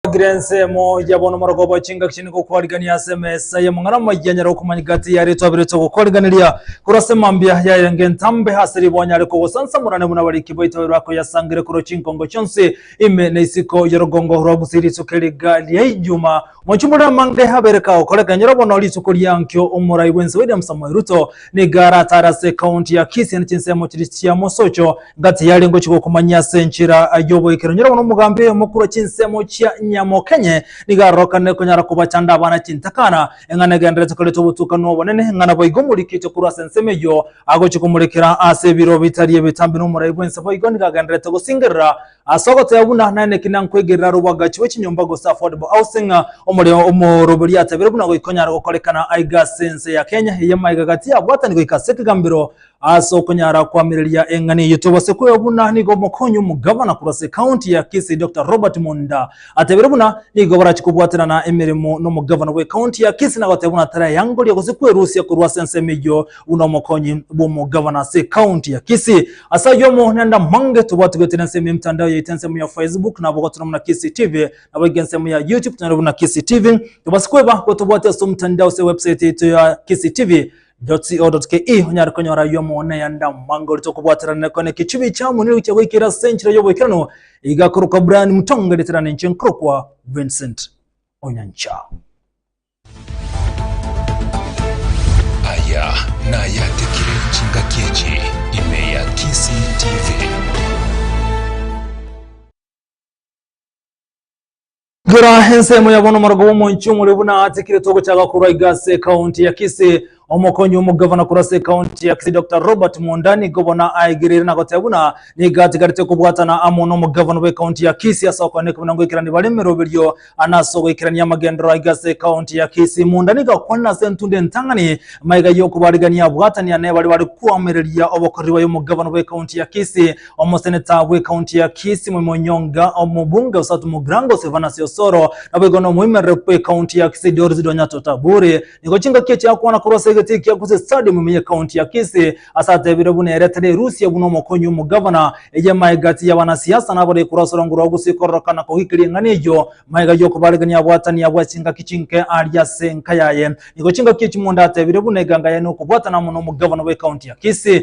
Ogire ensemo ya bono omoroko obo chingaki chine gokwarigania ase emesa y'amang'ana amaya anyare gokumanya gati y'ayare twaberete gokwariganiria korwa ase mambia yaye anga entambe ase ribogo anyare kogosansamorane buna abariki baito babere bakoyasangire korwa chinkongo chionsi ime na isiko y'orogongo rwa Gusii rituko eriga ria Ijuma mochumorere amange abere kagokora ekero nyora bono rituko riankio omorai bwensi William Samoei Ruto Nigo aratare ase ekaunti ya Kisii na chinsemo chiria chia mosocho, nga tiyari ngochia gokomanyia ase enchera y'oboikire. Onye rogoro nomogambi oyo omokure chinsemo chia Nyamokenye, nigo arorokanire konyara kobachanda abana chintakana, eng'ana egenderete koreta obotukanwa obonene, ng'a naboigo omorikite korwa ase ensemo eyio agochia komorekera ase ebiro bitari ebitambe, na omorai bw'ense boigo nigo agenderete gosingerera Ase ogotoya buna naende ki nankwegerera aro obwagachi bwe chinyomba gose affordable housing, omoreo omoroberia atebeire buna goika onyare gokorekana aiga ase ense ya Kenya eye amaiga gati abwatani goika ase ekegambero ase okonyara koamereria eng'ani eyio. Tobase kwegwa buna nigo omokonyi omogavana korwa ase ekaunti ya Kisii Doctor Robert Monda Atebire buna nigo barachie kobwaterana emeremo nomogavana bw'ecounty ya Kisii na goteba buna taraeangoria gose kwerusia korwa ase ensemo eyio buna omokonyi bw'omogavana ase ecounty ya Kisii. Ase ayio amo na Ndamange tobwati goetera ensemo y'emtandao yaito ensemo ya Facebook nabo gotuna buna Kisii TV naboigo ensemo ya YouTube tunere buna Kisii TV. Tobase kweba gotobwati ase omtandao ase ewebsite yaito ya Kisii TV Jotsi.co.ke onyare konyora ayio amang'ana ya ndamwa ngorete okobwaterana kone ekechubi ekiamo nigo gichia goikera ase enchera y'oboikeranu igakorokwa Brian Mutonga eritera ninche nkorokwa Vincent Onyancha. Aya nayatekire chingaki echi ime ya Kisii TV. Gera ensemo ya bono omorogo bw'omonchie omore buna atikire togochaga korwa iga ase county ya Kisii. Omokonyi omogavana korwa ase county ya Kisii Dr Robert Munda nigo bono aigereire na goteba buna nigo atigarete kobwatana amo nomogavana bwe county ya Kisii ase okwana ekobina ngoikerani bare emeroberio na ase ogoikerania amagenderero aiga ase county ya Kisii. Munda nigo akwanire ase entunda entang'ani maiga yokobarigania abwatania nebare bare koamereria obokoreri baye omogavana bwe county ya Kisii Omoseneta bw'ekaunti ya Kisii Mwai Onyonga, omobunge o South Mugirango Silvanus Osoro, naboigo nomoimerere bw'ekaunti ya Kisii Doris Donyato Taburi, nigo chingaki echiakwana korwa ase egete ekia Kusii Stadium ime y'ekaunti ya Kisii, ase atebiire buna ere tari erusia buna omokonyi omogavana, eye maegati y'abanasiasa nabarei korwa ase orongo rwa Gusii kororoka na kogikiria eng'ana eyio maega y'okobaregania abwatania bwa chingaki chinke aaria ase enka yaye. Nigo chingaki echi Mwonda atebiire buna eganga yaye n'okobwatana amo nomogavana bw'ekaunti ya Kisii,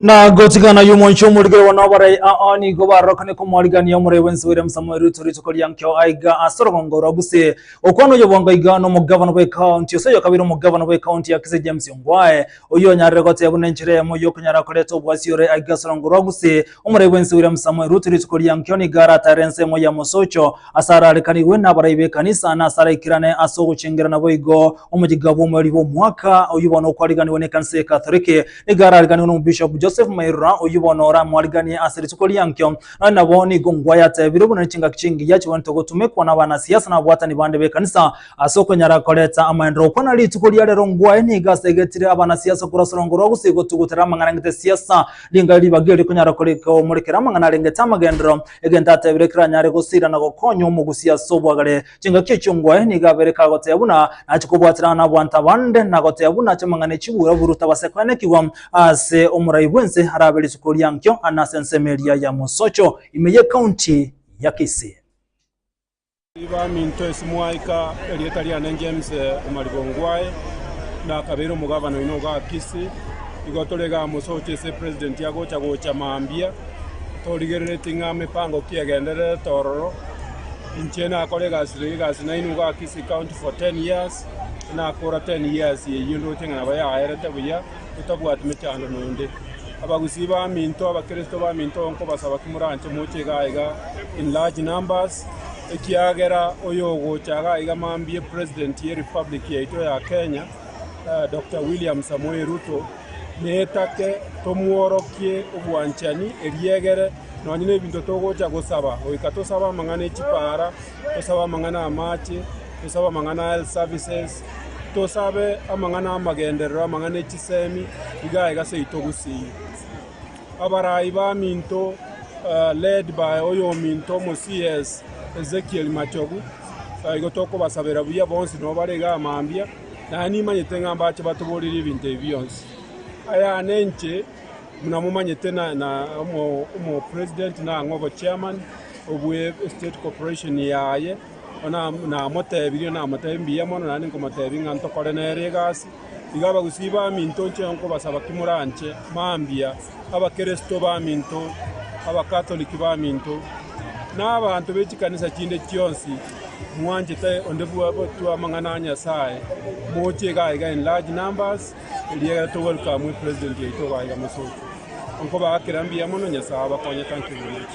Na gotigana y'omonche omorigere one obarai ao nigo barorokane komorigania omorai bwensi William Samoei Ruto rituko ria nkio aiga ase orogongo rwa Gusii okwana oyo bwango aiga nomogavana bw'ekaonti ase oyokabere omogavana bw'ekaonti ya Kisii James Ongwae oyio onyarire goteba buna enchera eyemo y'okonyara koreta obwasi ore aiga ase orogongo rwa Gusii omorai bwensi William Samoei Ruto rituko ria nkio nigo aratare ense eyemo ya mosocho ase ararekanigwe nabarai b'ekanisa na ase araikirane ase ogochengerana boigo omoyiga bw'omoeri bw'omwaka oyio bono okwariganiwe nekanisa y'Ekatoliki Nigo arariganiwe n'Omobishop Joseph Mairora, oyio bono ore amwariganie ase rituko riankio. Nonye nabo nigo ngwa yatebirwe buna nechingaki chingiya chigwenerete gotumekwa n'abanasiasa na abwatani bande b'ekanisa ase okonyara koreta amaendereo. Kwana rituko ria rero ngwa eye nigo asegetire abanasiasa korwa sorongo rwa gose gotugutera amang'ana angete esiasa. Ring'ana ribaga eri rikonyara komorekera amang'ana arengete amagendereo, egento atebire keranyare gosira na gokonya omogusi ase obwagare. Chingaki echiongwae nigo abere kagotebia buna nachia kobwaterana nabaanto abande, na gotebia buna chiamang'ana echi bwiroburu tabase koenekigwa ase omorai bw'ense arabe rituko ria nkio na ase ensemo eria ya mosocho ime y'ecounty ya Kisii. Baminto ase moika erieta riane James omariga ongwae na kabere omogavana oino oga Kisii. Igo tore igaa mosocho ase president agocha gocha mambia torigereretie ng'a mepango ki egendererete ororo. Inche nakora egasi eye egasi naino iga Kisii County for ten years, nakora ten years eyio ndoche ng'a nabo yaerete buya totabwati mechando nonde. Abagusii baminto, Abakristo baminto nkobasaba ki moranche moche iga iga in large numbers, ekiagera oyogocha iga iga mambia President ye Republic yaito ya Kenya, Doctor William Samoei Ruto, Netake tomworokie obwanchani eriegere nonye nebinto togocha gosaba, goika tosabe amang'ana e chipaara, tosabe amang'ana amache, tosabe amang'ana a health services, tosabe amang'ana amagenderero, amang'ana e chisemi, iga iga seito gusii. Abarai baminto led by oyominto omo CS Ezekiel Machogu, igo tokobasabera buya bonsi nobare igaa mambia. Naye nimanyete ng'a mbache batoborerie ebinto ebi bionsi. Ayane inche, buna momanyete, na omopresident na ang'e obochairman obwe Estate Corporation yaye, bono namotebirie namotebi mbuya mono, naende nkomotebi ng'a ntokore nere egasi. Iga abagusii baminto nche nkobasaba ki moranche mambia. Abakristo baminto, Abakatoliki baminto, na abanto be chikanisa chinde chionsi, mwanchete onde bw'abatwa amang'ana a Nyasae, moche iga aiga in large numbers, eriagera to welcome you President yaito iga aiga mosoki. Nkobaa kera mbuya mono, Nyasae abakonye, thank you very much.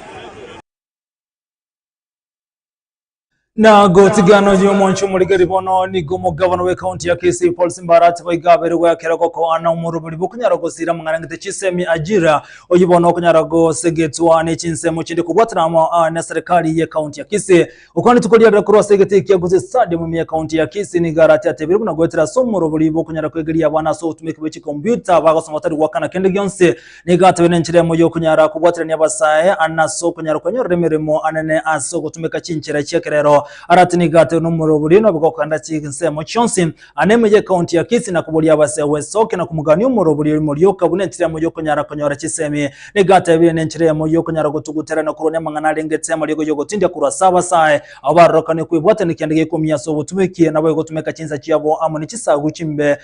Na gotigano y'omoncho omorigeri bono nigo omogabana w'ekaunti ya Kisii Paul Simbara atiba iga abere gwekera gokoana omoroberi bokonyara gosira mong'anangete chisemi Ajira oyio bono okonyara gosegetwa nechinsemo chinde kobwatana amo ah, ne serikali y'ekaunti ya Kisii okwanetwe koriarera korwa ase egete ekia Gusii Stadium ime y'ekaunti ya Kisii nigo arati atebire buna goetera ase omorobori bokonyara kwegeria abana ase ogotumeka bwe chikombiuta bagosoma batari goakana kende gionsi Nigo atobe nenchera emo y'okonyara kobwaterania abasae ane ase okonyara kwenyorera emeremo anene ase ogotumeka chinchera chi'ekerero. Arati nigo atobe nomorobori nobe gokenda chinsemo chionsi ane ime y'ekaunti ya Kisii na koboria abasae gwesokia na komogania omorobori oria morioka buna enchera emo y'okonyara konyora chisemi. Nigo atebire nenchera emo y'okonyara gotugutera na korwania amang'ana arengete amariogo y'ogotindia korwa ase abasae abo barorokanire kwebwaterania kende gekomia ase obotumeki nabo egotumeka chinsa chiabo amo ne chisagu chimbe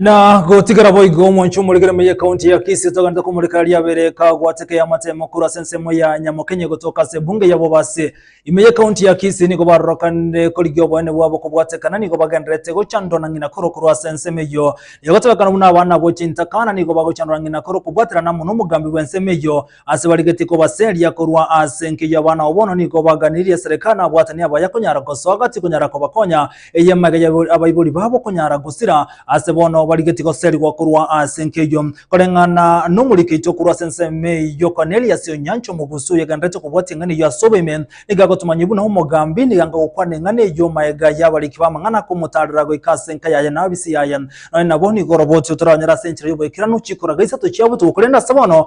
na gotigara boigo omoncho omorekere meye kaunti ya kisi togenda komorekera riabere kagwateke ya matemo kura ase ensemo ya nyamokenye gotoka ase bunge ya bobasi ime ye kaunti ya kisi nigo barorokanire korigia oboene bwabo kobwatekana nigo bagenderete gochandwa na ng'ina koro korwa ase ensemo eyo egotebekana buna abana abo chintakana nigo bagochandwa na ng'ina koro kobwaterana amo na omogambi bwa ensemo eyo Ase barigetie kobaseria korwa ase enkiyo y'abana ao bono nigo baganirie esereka na abwatani abo ayakonyara gosoa gati konyara kobakonya, eye emegaya ya abaibori babo konyara gosira. Ase bono barigetie goserigwa korwa ase enkiyo eyio, koreng'ana nomorikeito korwa ase ensemo eyio Kornelio ase enyancha omogusu oyogendererete kobwatia eng'ana eyio ase oboime, nigo agotomanywa buna omogambi, nigo agoka gokwana eng'ana eyio maega y'abariki b'amang'ana komotaarera goika ase enka yaye na abise yaye. Nonya nabo nigo oroboti otoranyore ase enchera y'oboikeranu chikuraga isato chiabo tigwe korende ase bono,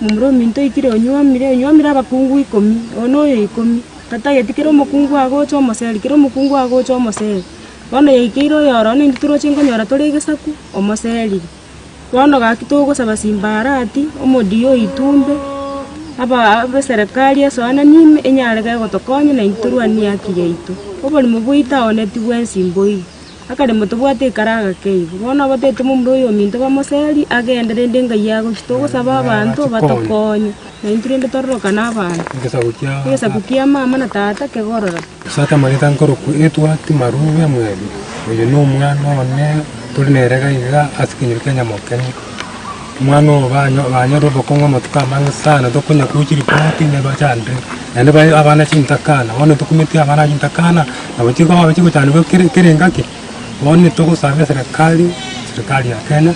Momura ominto oitire onyuomire, onyuomire abakungu ikomi, oyo noyo ikomi. Tatageti kera omokungu agocha omoseri, kera omokungu agocha omoseri. Bono yaikeire oyore one intwe toroche nkonyora tore egesaku, omoserire. Bono gaki togosaba simbarati, omodia oitwe ombe, aba- abeserekari esoanani ime, enyare gegotokonya naintwe torwanie haki yaito. Oborimo bwaito aoneti bwensi mboigo. Akare, Motobwate ekero agakeigwa. Bono abatebete momura oyo ominto bamoseri agende, rende engayi agochia togosaba abanto batokonye, naintwe rende tororoka nabanto. Egesaku kia mama na tata kegororoke. As'ase amagete ankorokwa etwa Timaruga Mweri. Oyo nomwana one tore nere gaiga as'ekenyoro kia Nyamokenya. Omwana ogo banyore obokong'u amatuko amange sana, tokonya gocha ripoti ne bachande, naende bae abana chintakana. Bono tokumeti abana aba chintakana, nabo chikoba chigochandekwa kere kere engaki. Bono nitogosaba eserekari, serikari ya Kenya,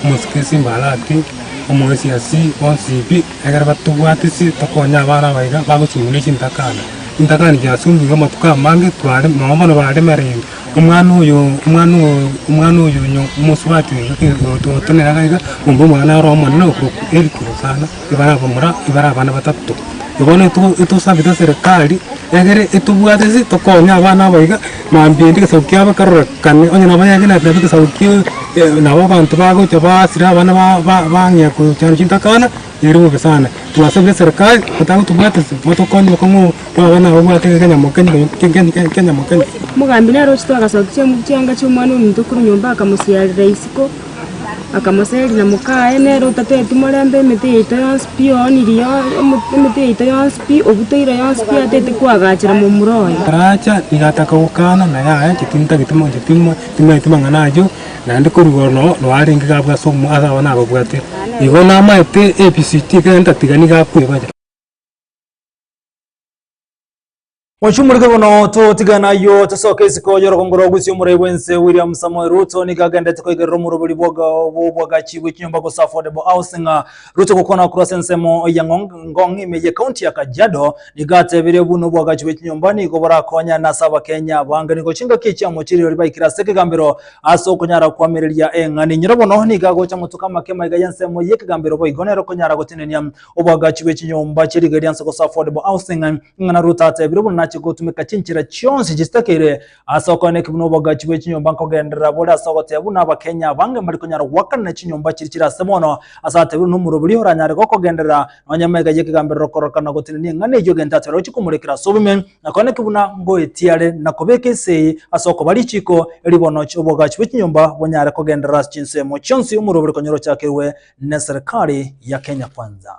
omosikisi mbarati, omoesiasi, bonsi pi, ekero batobwatisie tokonye abana aba iga bagosubuna chintakana. Chintakana chiasubunigwe amatuko amange tware, nonya bono baremereire. Omwana oyo, omwana oyo, omwana oyo onye omosubati oyo ogotogotenera iga iga, omba omwana ore omonene okoku heri korwa sana, ebare abamura, ebare abana batato. Na bono eto etosabete serikari, egere etobwate ase tokonye abana aba iga, mambia ende egesaku kiabo bakarorekane, onye nabo yagenderete nabo egesaku kiaye, nabo abanto bagocha basira abana ba- ba- bang'ea kochandwa chintakana. Ere bobe sana. Twasabire serikali gotaga gotobwatesa motokonye bokong'u twaba nababwate kegenya mokenyi kegenya mokenyi. Omogambi nere ochete agasokia chiamuri chianga chi'Omwana ominto korwa nyomba akamosiarera isiko, akamoseria na mokaye, nere otateti morembe emete yaito yonsi pi ooniri emete yaito yonsi pi obutoire yonsi pi atete koagachera momura oye. Aracha nigo ataka gokana, na yaya, chitintagete mo chitimo timaeti mang'ana ayio. Naende koruga ororo noarenge gabwo ase omoyo ase abana ababwate, igo namaete ebisiti ekero ntatiga nigo akoebanya. Mochumurikwe bono totigane ayio tosoke isiko y'orogongo rwa Gusii Omorai bw'ense William Samoei Ruto nigo agenderete koigerera omoroberi bw'oboagachi bw'echinyomba gose affordable housing Ruto gokwana korwa ase ensemo ya Ngong ime ye county ya Kajiado nigo atebirie buna obwagachi bwe chinyomba nigo borakonyane ase abakenya abange nigo chingaki chiamochirire ribaikire ase ekegambero ase okonyara koamereria eng'ani enyiro bono nigo agocha motuko amake maiga y'ensemo y'ekegambero boigo nero okonyara gotenenia obwagachi bwe chinyomba chie riga eria nse gose affordable housing ng'ina Ruto atebire buna nache gotumeka chinchera chionsi chitakeire Ase okoeneki buna obogachi bwe chinyomba nkogenderera bore ase ogoteba buna Abakenya abange mbari konyara goakanana chinyomba chiri chire ase mono ase atebeirwe nomoroberi oranyare gokogenderera nonya emega y'ekegamberero kororoka na gotenenia eng'ana eyio egento atari gochia komorekera ase obume. Nakoeneki buna ngoetiare na kobeka ise eye ase okoba richiko erio bono obogachi bwe chinyomba bonyare kogenderera ase chinsemo chionsi omoroberi konyora ochakerwe neserikari ya Kenya Kwanza.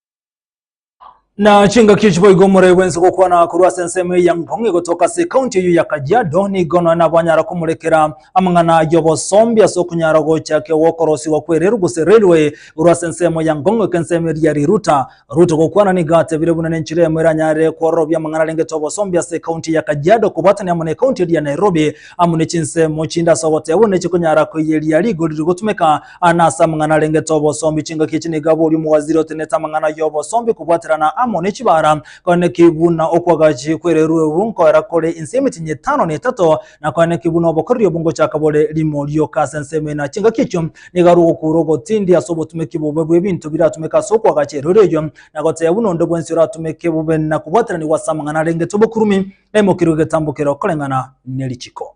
na chingaki echi boigo omoroi bwense gokwana korwa ase ensemo eya ngong egotoka ase ekaunti eyo ya kajiado nigo nonya nabanyara komorekera amang'ana y'obosombi ase okonyara gochake gokorosiwa kw'erelu gose railway korwa ase ensemo ya ngong eke ensemo eri ya riruta ruto gokwana nigo atebire buna nenchera emo eranyare kwororobia amang'ana arengete obosombi ase ekaunti ya kajiado kobwatania amo na ekaunti eri ya nairobi amo ne chinsemo chinde ase ogoteba buna chikonyara koiyeria rigori rigotumeka Aane ase amang'ana arengete obosombi, chingaki echi nigo abori omowaziri otenenete amang'ana y'obosombi kobwaterana amo ne chibara, kone ki buna okw'agachi kw'ererueru nkoera kore ense y'emetienyi etano na etato, na kone ki buna obokoreri obwo ngochaka bore rimo rioka ase ensemo eye, na chingaki echio nigo are ogokuura ogotindi ase obotumeki bobe bw'ebinto biratumeke ase okw'agacha ereru eyio, na gotebia buna onde bwensi oratumeke bobe na kobwateranigwa ase amang'ana arengete obokurumi naimokerwe egetambo keria okoreng'ana ne richiko.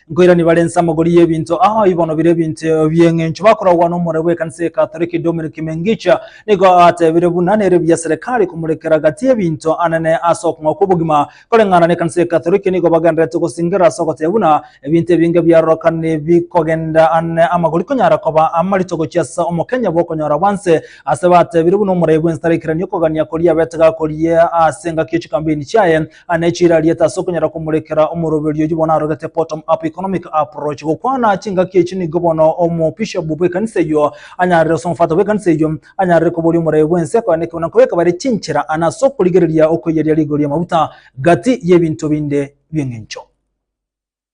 Nkoirania bare inse amagori y'ebinto aa ibono bire ebinto bi'engencho bakorogwa n'omoroi bw'ekanisa ya Katoliki Dominic Mengica nigo atebire buna nere buya serikali komorekera gati ebinto anene ase okong'ao kw'obogima koreng'ana n'ekanisa ya Katoliki nigo bagenderete gosingera ase ogotebia buna ebinto ebinge biarorokani bikogenda ane amagori konyara koba amarito gochia ase omokenya bw'okonyora bwanse ase batebire buna omoroi bw'ense tarekerania okogania koria abete gakoria ase engaki ye chikambeni chiaye Ane chirariete ase okonyara komorekera omoroberio oyio bono arogete bottom up economic approach. Gokwana chingaki echi nigo bono omobishop bw'ekanisa eyio anyarire gose omofata bw'ekanisa eyio anyarire koboria omoraia bw'ense akoenda ekeene na kobeka bare chinchera ane ase okorigereria okoiyeria rigori y'amaguta gati y'ebinto binde bi'eng'encho.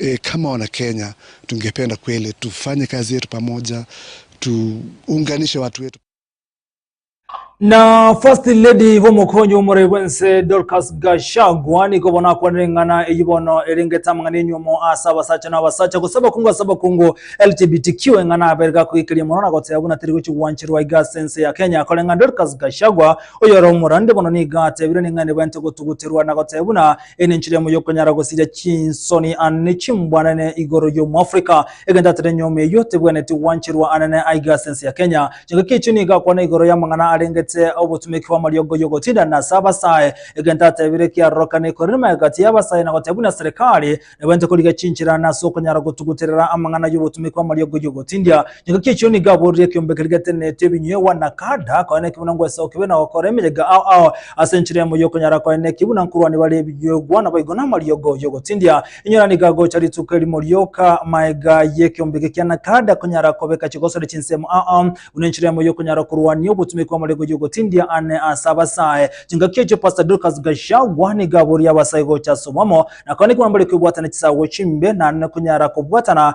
Ee, kama Wanakenya tungependa kweli tufanye kazi yetu pamoja, tuunganishe watu wetu. Na First Lady b'omokonyi bw'omoroi bw'ense Dorcas Gachagua nigo bono akwanire eng'ana eyio bono erengete amang'ana enyuomo ase abasacha na abasacha gose abakungu ase abakungu LGBTQ eng'ana aberge akoikeria mono na goteba buna teri gochi gwancherwa iga ase ense ya Kenya koreng'a Dorcas Gachagua oyore omorande bono nigo atebire ning'a nibente gotuguterwa na goteba buna Eye nenchera emo y'okonyara gosiria chinsoni anene chimbwanene igoro y'Omoafrika, egento atera enyiomi eyio tebwenereti gwancherwa anene aiga ase ense ya Kenya. Chingaki echio nigo akwana igoro y'amang'ana arengete obotumeki bw'amariogo y'ogotindanera ase abasae, egento atebire kiarorokani korenema egati y'abasae na goteba buna serikali nebwenerete korigia chinchera ane ase okonyara gotuguterera amang'ana y'obotumeki bw'amariogo y'ogotindia Egaki echio nigo aboorire ekeombe keria geteneneti ebinywegwa na kanda, koe neki buna ngwesaho kibe na gokora emeyega ao ao ase enchera emo y'okonyara koe neki buna nkorwani bare ebinywegwa naboigo namariogo y'ogotindia. Inyora nigo agocha rituko erimo rioka magega y'ekeombe eke kia nakada konyara kobeka chigosori chinsemo ao ao buna enchera emo y'okonyara korwania obotumeki bw'amariogo y'ogotindia ane ase abasae. Chingaki echio Pastor Dorcas Gachagua nigo aboorire abasae gocha ase obomo na koe neki buna mbare kwebwatana chisago chimbe naende konyara kobwatana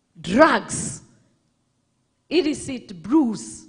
drugs, illicit brews.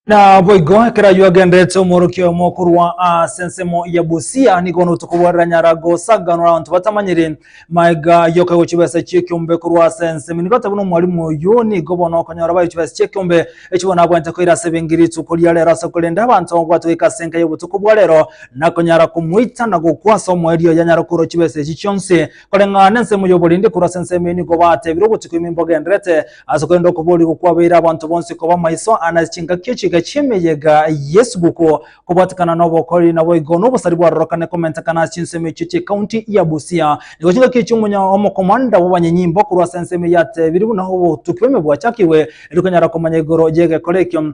Naboigo ekero ayio agenderete omworokia oyomo korwa ase ensemo ya Busia, nigo noto kobwarera nyara gosaganora abanto batamanyire magega yoka gochia chibesa chi'ekiombe korwa ase ensemo. Nigo ateba buna omwalimu oyio nigo bono okonyora bayo chibesa chi'ekiombe echio bono abwate koira ase ebenki rituko ria rero ase korenda abanto gobwatwa goika ase enka y'obotuko bwa rero, nakonyara komoita na gokwa ase omoerio yanyara korwa chibesa echi chionsi. Koreng'ana ensemo y'oborindi korwa ase ensemo eye nigo baatebire ogochika ime mbogenderete ase korenda okoboorigwa kwabeire abanto bonsi koba maiso ane ase chingaki echiika chi'emeyega y'esuguku. Kobwatikana n'obokori naboigo n'obosari bwarorokane komentekana ase chinsemo echio chi'ekaunti ya Busia. Nigo chingaki echio omonya omokomanda bw'abanyenyimbo korwa ase ensemo eye atebire buna obotuki bw'ime bwachakigwe, erikonyara komanya igoro y'egekore ekio.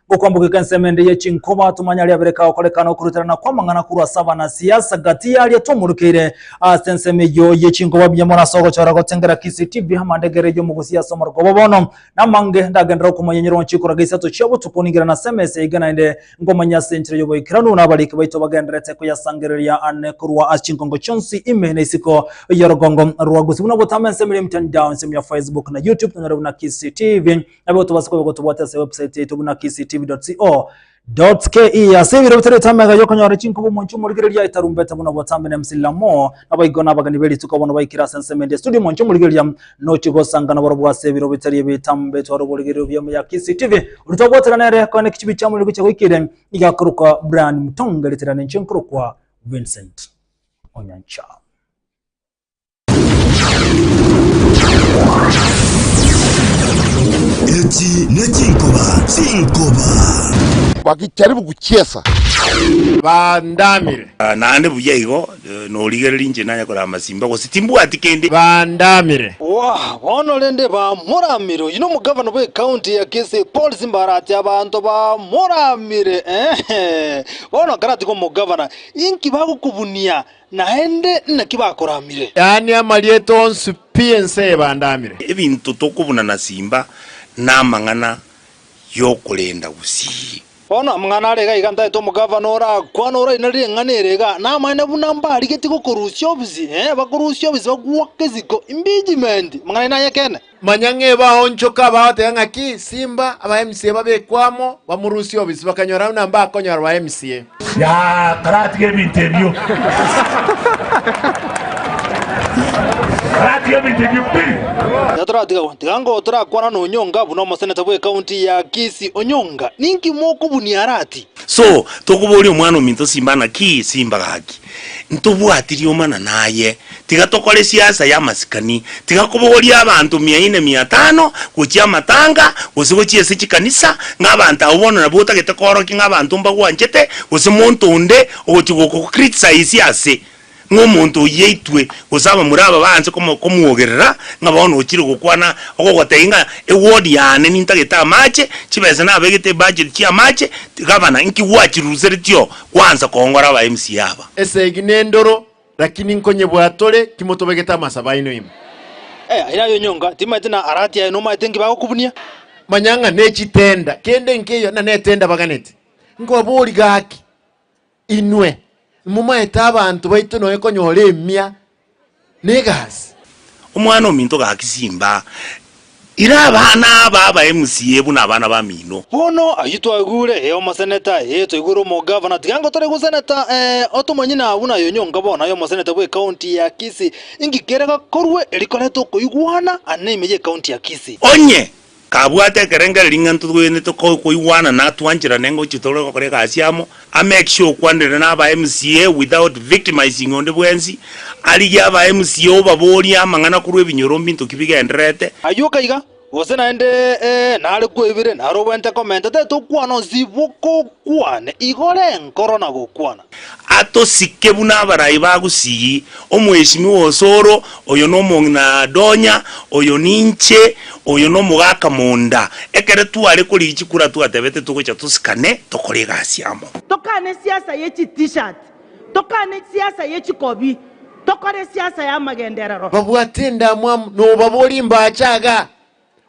Okwambogeka ensemo ende ye chinkoba tomanyare abere kagokoreka na okoruterana kw'amang'ana korwa ase abanasiasa gati y'aria twamorokeire ase ensemo eyio ye chinkoba mbuya mono ase ogochora gotengera CCTV amandegera eyio mogosia ase omorakoba bono namange ndagenderere okomanya nyir'o chikoraga isato chia botuko ningire nase emesa ya iga naende nkomanya ase enchera y'oboikeranu na abariki baito bagendererete koyasangereria ane korwa ase chinkongo chionsi ime na isiko y'orogongo rwa gusii buna botama ensemo ere ya emitandao ensemo ya Facebook na YouTube tonyore buna CCTV Nabo tobase koba gotobwate ase website yaito buna kctv.co.ke. Ase ebiro bitareti amega y'okonyora chinkuba omonchie omorigereria aetarumbete buna obotambe na emsilamo. Naboigo nabageni be rituko bono baikire ase ensemo eria estudio omonchie omorigereria nochie gosanga nabarabwo ase ebiro bitari ebitambe etware oborigererio bw'eamo ya kctv. Oria twagoetera nere koene ekichibi chiamo nigo chiagoikire iga akorokwa Brian Mutonga eritera ninche nkorokwa Vincent Onyancha. Echi nechinkoba chinkoba. Bakijaribugu chiesa bandamire. Naende buya igo norigereri inche nanye korama masimba, gose timbwati kende. Bandamire. Waa, bono rende bamoramire. Oyio nomogavana bw'ecounty ya Kisii Paul Simbara ati abanto bamoramire, eeh, bono akaratiga omogavana, inki bagokobunia? Naende naki bakoramire? Yaani amarieta onsi pi ense ebandamire. Ebinto tokobuna na simba namang'ana yokorenda gusii. Bono amang'ana are iga iga ntaete omogavana orakwane oraine ring'ana ere iga namaene buna mbarigetie gokorusia obisi, ee bakorusia obisi bagwoke isiko, imbijimenti, amang'ana aino ay'ekeene. Manya ng'eba aonchoke abagoteebe ng'aki, Simba abaemsie babekwe amo, bamorusie obisi, bakanyora buna mbakonyora baemsie. Karatiga ebinto ebio pi. Iga toratiga agwo. Tiga ngo torakwana na Onyonga buna omoseneta bwe county ya Kisii. Onyonga, ninki mokobunia arati? So tokoboria omwana ominto Simba ng'aki, Simba gaki, ntobwati riomana naye. Tiga tokore siasa y'amasikani. Tiga kobogoria abanto mia ine, mia tano, gochia amatanga, gose gochia ase chikanisa, ng'a abanto abwo bono nabwo otagete koorokia ng'a abanto mbagwanchete, gose monto onde ogochia gokocriticize ase ng'a omonto oyio aitwe, gose abamura aba baanse komo komwogerera, ng'a bono ochire gokwana ogogotebi ng'a eward yane nintagete amache, chibesa nabegete ebudget chi'amache, gavana, nki gwachirusereti oo gwansa koongora aba mca aba? Esegi nendoro Lakini nkonyebwaa tore, timotobegete amasabo aino ime. Eya, ere ayo nyonga, timaete na arati aye nomaete nki bagokubunia. Manya ng'a nechitenda, kende nkeiyo, na netenda baganeti. Nkobabori gaki, inwe momaete abanto baito noe konyora emia na egasi. Omwana ominto gaki simba. Ira abana aba abae MCA buna abana bamino. Bono ayio twagure ee omoseneta ee toigure omogavana tiga ngotore goseneta ee otomonyina buna aye onyonka bono aye omoseneta bwe county ya Kisii inki kere gakorwe rikorete okoigwana aa neime ye county ya Kisii. Onye kabwate ekerengereri ng'a ntotwenerete koigwana na twancherane ngochia tore gokora egasi amo A make sure okwanera na aba MCA without victimizing onde bwensi, arigie aba MCA obaborie amang'ana korwa ebinyoro mbinto ki bigendererete. Ayio kaiga, gose naende ee, nare kwebire, nare obwenerete komenta, tete okwana onsi boka okwane, igo renkoro na gokwana. Atosike buna abarai ba gusii, Omweshimiwa Osoro, Oyo nomong'ina donya, oyo ninche, oyo nomogaka monda. Ekero tware korigia chikura twatebete togocha tosikane tokore egasi amo. Tokane esiasa ye chi T-shirt, tokane esiasa ye chikobi, tokore esiasa y'amagenderero. Babwate endamwamu, nobaborie mbache aga,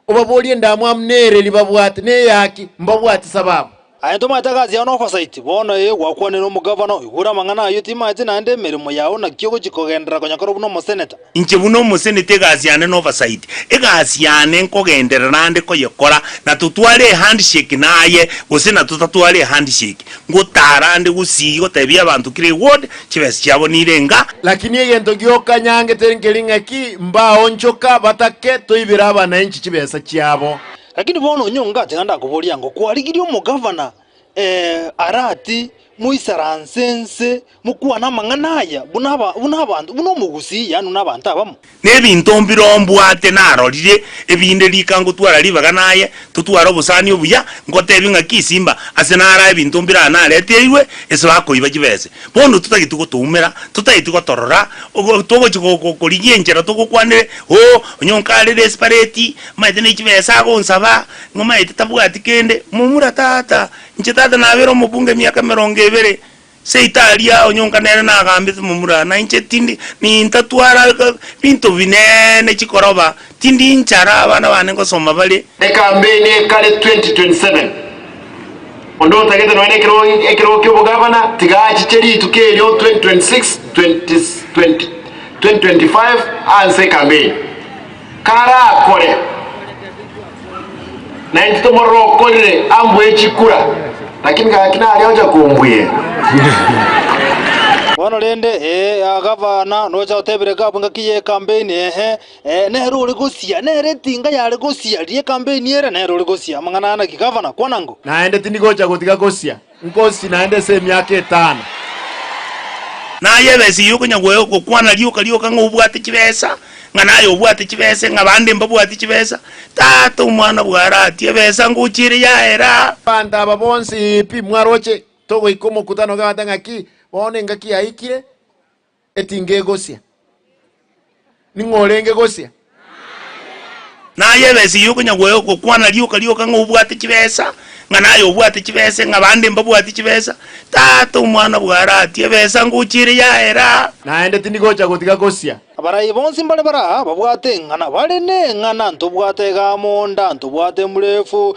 obaborie endamwamu nere riba bwate, neyaki, mbabwate sababu. Aye tomaete egasi yao nofasaiti, bono ee gwakwanire omogavana oyo, bura amang'ana ayio timaete naende emeremo yao naki ogochia kogenderera konya korwa buna omoseneta. Inche buna omoseneta egasi yane nofasaiti, egasi yane nkogenderera ande koyekora, natotware ehandshake naye gose natotatware ehandshake. Ngotaarande gusii gotebia abanto kire word chibesa chiabo nire enga. Lakini egento gioka nyangete nkeri ng'aki mbaonchoka batake toibera abananchi chibesa chiabo. Lakini bono onye ongate naende akoboria ng'o, Kwarigirie omogavana, ee, arati, Moisaranse inse, Mokwane amang'ana aya buna abanto, buna omogusii, yaani buna abanto abamo. Nebinto mbiroo mbwate narorire, ebinde rika ngotwara ribaga naye, totware obosani obuya, ngotebi ng'aki isimba, ase nara ebinto mbira nareteirwe, ase bakoiba chibese. Bono totageti gotoumera, totageti gotorora, togochi korigia enchera togokwanire, Oo, onye onka are desperate, maete ne chibesa agonsaba, ng'a maete tabwati kende, momura tata, inche tata nabere omobunge emiaka emerongo ebere, Seito aria aonyonka nere nagambete momura, na inche tindi nintatwara binto binene chikoroba, tindi inchara abana bane ngosoma bare. Ekampeini ekare 2027 Onde otagete nonya nekerogo ekerogo kiobogavana tiga achiche rituko erio 2026 2025 anse ekampeini karakore. Na intwe tomorokorire ambwe echikura, lakini gaki nare ocha kombwera. Bono rende, ee, aa, gavana, nocha otebire Gab ngaki y'ekampeini, ehe, ee, nere ore gosia, nere etinga yare gosia ri'ekampeini ere, nere ore gosia amang'ana ana ki, gavana, kwana ng'o? Naende tindi gocha gotiga gosia. Nkosi naende ase emiaka etano. Naye ebesa eyio okonya gokwana rioka rioka ng'a obwate chibesa, ng'a naye obwate chibesa, ng'a bande mbabwati chibesa, tata omwana bw'ara ati, ebesa ngochiire yaera aa. Abanto aba bonsi pi mwaroche, togoika omokutano ogabata ng'aki, bono engaki yaikire. etingegosia. Ning'o orenge gosia? Naye ebesa eyio okonya gokwana rioka rioka ng'a obwate chibesa, ng'a naye obwate chibese, ng'a bande mbabwati chibesa, tata omwana bwaratie ebesa ngochia ere yaera aa. Naende tindigocha gotiga gosia. Abarai bonsi mbare baraa babwate eng'ana bare neng'ana ntobwate egamo nda ntobwate emburefu.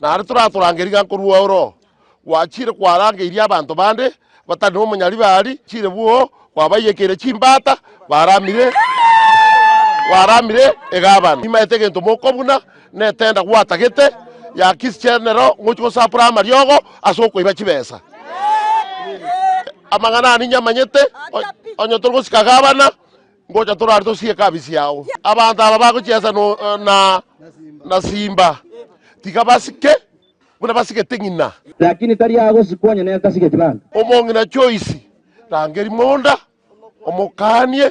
Naende toratorange rigaancho korwa ao Roho gwachiire kwarangeirie abanto bande batari nomonyaribe aria, chiire bwoo gwabaiyekeire chimbaata baramire, gwaramire egabana. Nimaete egento moko buna netenda gwatagete ya kisichenero ngochia gosapora amariogo ase okoiba chibesa. Amang'ana aya ninyamanyete onye tori gosika gabana. Ngocha torare tosie ekabi ciao. Abanto aba bagochiesa na simba, tiga basike buna basigete ng'ina. Lakini tari agosikwa onye netasigeti bande. Omong'ina Joyce, rangeria monda, omokanie,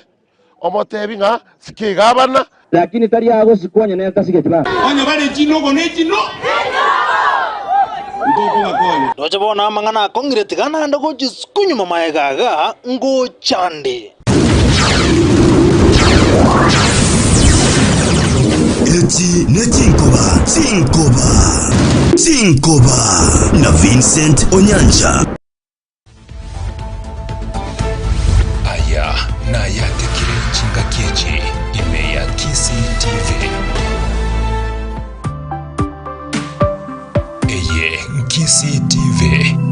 omotebi ng'a sike iga abana Lakini tari agosikwa onye netasigeti baba. Onye bare chinogo ne chino. Nkokobakonya. Roche bono amang'ana akong'ire tiga naende gochisuku nyuma maega iga ngochande. Echi ne chinkoba, chinkoba, chinkoba na Vincent Onyancha. Aya nayatekire chingaki echi ime ya Kisii TV. Eye Nkisii TV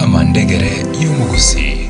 amandegere y'omogusii.